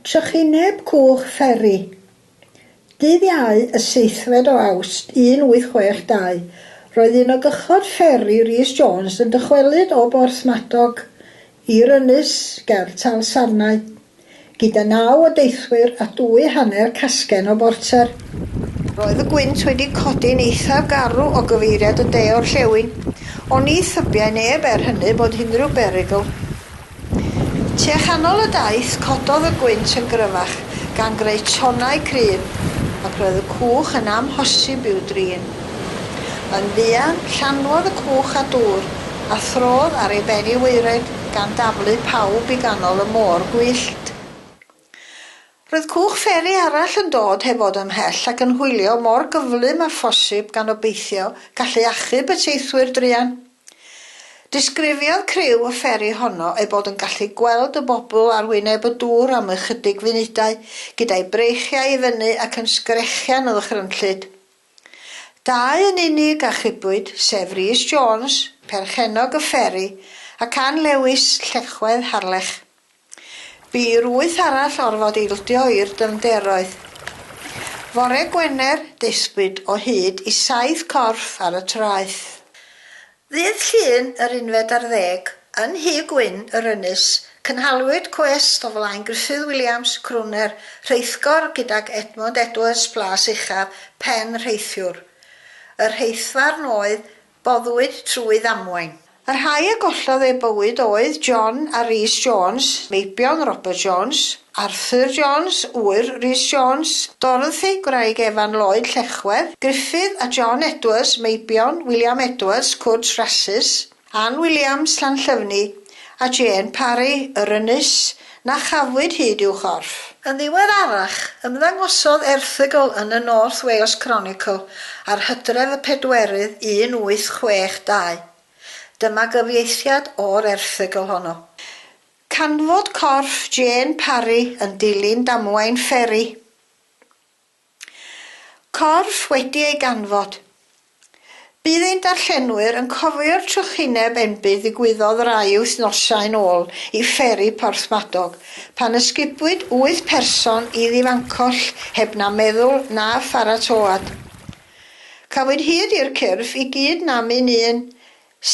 Trychineb Cwch Fferi. Dydd Iau y seithfed o Awst 1862, roedd un o gychod fferi Rees Jones yn dychwelyd o Borthmadog i'r ynys ger Talsarnau, gyda naw o deithwyr a dwy hanner casgen o borter. Roedd y gwynt wedi codi'n eithaf garw o gyfeiriad y de-orllewin, ond ni thybiai neb er hynny bod unrhyw berygl. Tua chanol y daith, cododd y gwynt yn gryfach, gan greu tonnau cryf, ac roedd y cwch yn amhosib i'w drin. Yn fuan, llanwodd y cwch â dŵr, a throdd ar ei ben i waered, gan daflu pawb i ganol y môr gwyllt. Roedd cwch fferi arall yn dod heb fod ymhell ac yn hwylio mor gyflym â phosib gan obeithio gallu achub y teithwyr druan. Disgrifiodd criw y fferi honno eu bod yn gallu gweld y bobl ar wyneb y dŵr am ychydig funudau, gyda'u breichiau i fyny ac yn sgrechian o ddychrynllyd. Dau yn unig achubwyd, sef Rhys Jones, perchennog y fferi, ac Ann Lewis, llechwedd Harlech. Bu i'r wyth arall orfod ildio i'r dyfnderoedd. Fore Gwener, daethpwyd o hyd i saith corff ar y traeth. Ddydd Llun yr unfed ar ddeg, yn Nhŷ Gwyn yr Ynys, cynhaliwyd cwest o flaen Gruffydd Williams, crwner, rheithgor gydag Edmund Edwards, Plas Uchaf, pen rheithiwr. Y rheithfarn oedd boddwyd trwy ddamwain. Y rhai a gollodd eu bywyd oedd John a Rhys Jones, meibion Robert Jones, Arthur Jones, ŵyr Rhys Jones, Dorothy, gwraig Evan Lloyd, Llechwedd, Gruffydd, a John Edwards, meibion William Edwards, Cwrs Rasys, Ann Williams, Llanllyfni, a Jane Parry, yr ynys, Na chafwyd hyd i'w chorff. Yn ddiweddarach, ymddangosodd erthygl yn y North Wales Chronicle ar Hydref y Pedwerydd 1862. Dyma gyfieithiad o'r erthygl honno. Canfod corff Jane Parry yn dilyn damwain fferi. Corff wedi ei ganfod. Bydd ein darllenwyr yn cofio'r trychineb enbyd ddigwyddodd rai wythnosau'n ôl i fferi Porthmadog, pan ysgubwyd wyth person i ddifancoll heb na meddwl na pharatoad. Cafwyd hyd i'r cyrff i gyd nam un un,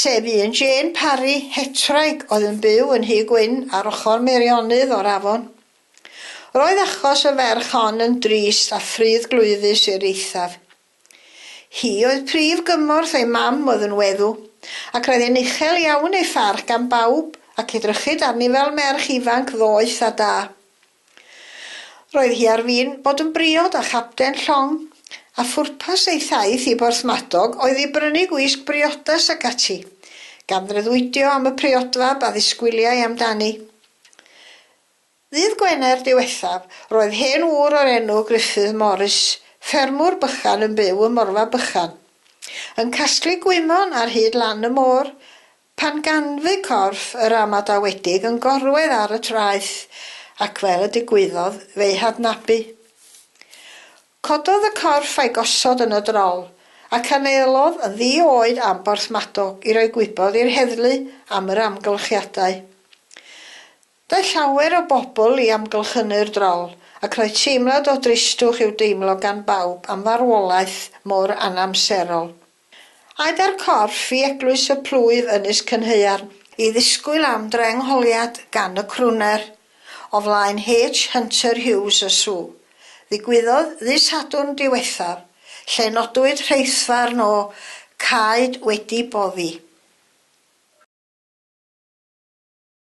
sef un Jane Parry, hetraig, oedd yn byw yn Nhŷ Gwyn ar ochr Meirionydd o'r afon. Roedd achos y ferch hon yn drist a phruddglwyfus i'r eithaf. Hi oedd prif gymorth ei mam oedd yn weddw, ac roedd e'n uchel iawn ei pharch gan bawb ac edrychid arni fel merch ifanc ddoeth a da. Roedd hi ar fin bod yn briod a chapten llong, a phwrpas ei thaith i Borthmadog oedd i brynu gwisg briodas ac ati, gan freuddwydio am y priodfab a ddisgwyliai amdani. Ddydd Gwener diwethaf, roedd hen ŵr o'r enw Gruffydd Morris, ffermwr bychan yn byw ym Morfa Bychan, yn casglu gwymon ar hyd lan y môr, pan ganfu corff yr amadawedig yn gorwedd ar y traeth, ac fel y digwyddodd fe'i hadnabu. Cododd y corff a'i gosod yn y drol, ac anelodd yn ddi-oed am Borthmadog i roi gwybod i'r heddlu am yr amgylchiadau. Daeth llawer o bobl i amgylchynu'r drol, ac roedd teimlad o dristwch i'w deimlo gan bawb am farwolaeth mor anamserol. Aed â'r corff i Eglwys y Plwyf Ynys Cynhaearn, i ddisgwyl am drengholiad gan y crwner, o flaen H. Hunter Hughes y sw. Ddigwyddodd ddydd Sadwrn diwethaf, lle nodwyd rheithfarn o caed wedi boddi.